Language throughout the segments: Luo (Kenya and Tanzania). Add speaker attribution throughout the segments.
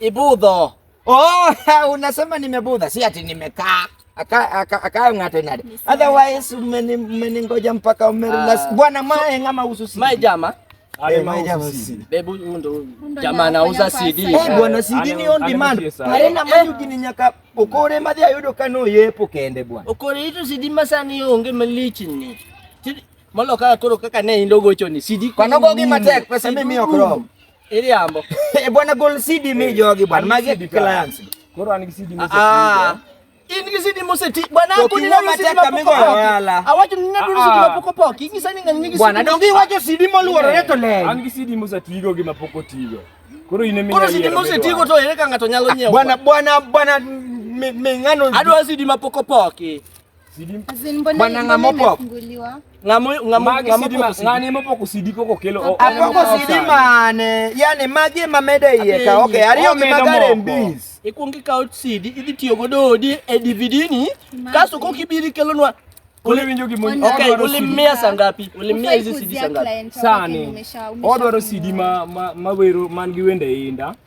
Speaker 1: Ibudho. Oh, unasema nimebudha, si ati nimekaa akayo ng'ate nade otherwise mmeningoja mpaka umerelax ah. bwana mae ngama ususi mae jama eh, Bebu ndo jamaa anauza CD. Eh, bwana CD ni on demand. Arena mali ukininyaka ukore madhi ayudo kano yepo kende bwana. Ukore itu CD masani onge malichi ni. Molo kaka koro kaka ne indogo choni CD. Kwa nogo gi matek pesa mimi okrom. Iriambo. Eh bwana gol CD mi jogi bwana. Magi clients. Koro an gi CD mi. Ah. In gi CD moseti bwana ako ni ng'ama tek kamigo wala. Awacho ni nadu CD mapoko pok. Ingisa ni ng'ani gi CD. Bwana dongi wacho CD moluorore to le. An gi CD mosetigo gi mapoko tigo. Koro in emi. Koro CD mosetigo to ere ka ng'ato nyalo nyiewo. Bwana bwana bwana ming'ano. Adwa CD mapoko pok. Bwana ng'amo pop. Ng'amo ng'amo ng'amo pop ng'ane mo pok osidi koko kelo. Apok osidi mane? Yani magi ma mede iye ka. Okay, ariyo gi magare mbis. Ikuong ikaw CD idhi tiyo godo odi e DVD ni kaso kok ibiri kelonwa Uli winjo gi moni. Okay, uli mia sangapi? Uli mia hizi CD sangapi? Sani. Odwaro CD ma ma wero man gi wende inda.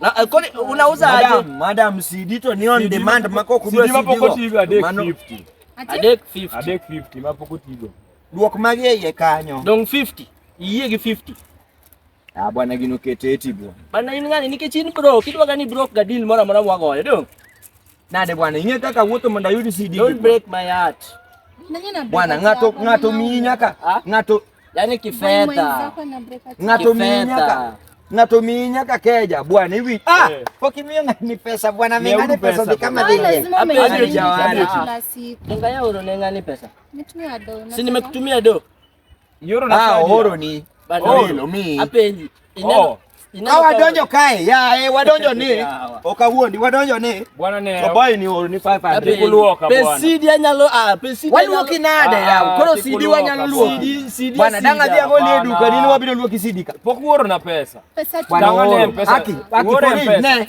Speaker 1: Na eh, kodi unauza aje? Madam, madam sidito ni on demand mako kudwa sidito. Sidito mapokoti hivi adek 50. Adek 50. Adek 50 mapokoti hivi. Duok magi yeye kanyo. Dong 50. Iye gi 50. Ah bwana gino keteti bwana. Bana in ngani nikech in bro, kidwa gani bro ga deal mora mora mwagoyo dong. Nade bwana, inye kaka wuotho mondo ayud CD. Don't break my heart. Bwana, ng'ato ng'ato miyi nyaka ah? ng'ato yani kifedha. Ng'ato miyi nyaka ng'ato miyi nyaka keja bwana hivi ah, eh. pok imiyo ng'ani pesa bwana mi ng'ani pesa dhi kama dhi Unga ya uro ne ng'ani pesa. Si nimekutumia do. Yoro na ah, oro ni. Oro mi. Apenji. Ineno. Oh. Ka wadonjo kae, ya eh, wadonjo ni. Ok awuondi, wadonjo ni. Bwana ne. Oboy ni oro ni 500 kuluoka bwana. Pesidi anyalo ah, pesidi. Waluoki nade ah, ya. Koro CD wanyalo luoki. CD. Bwana danga dia go le duka ni wabiro luoki CD ka. Pok uoro na pesa. Pesa tu. Danga ne pesa. Aki, aki pori ne.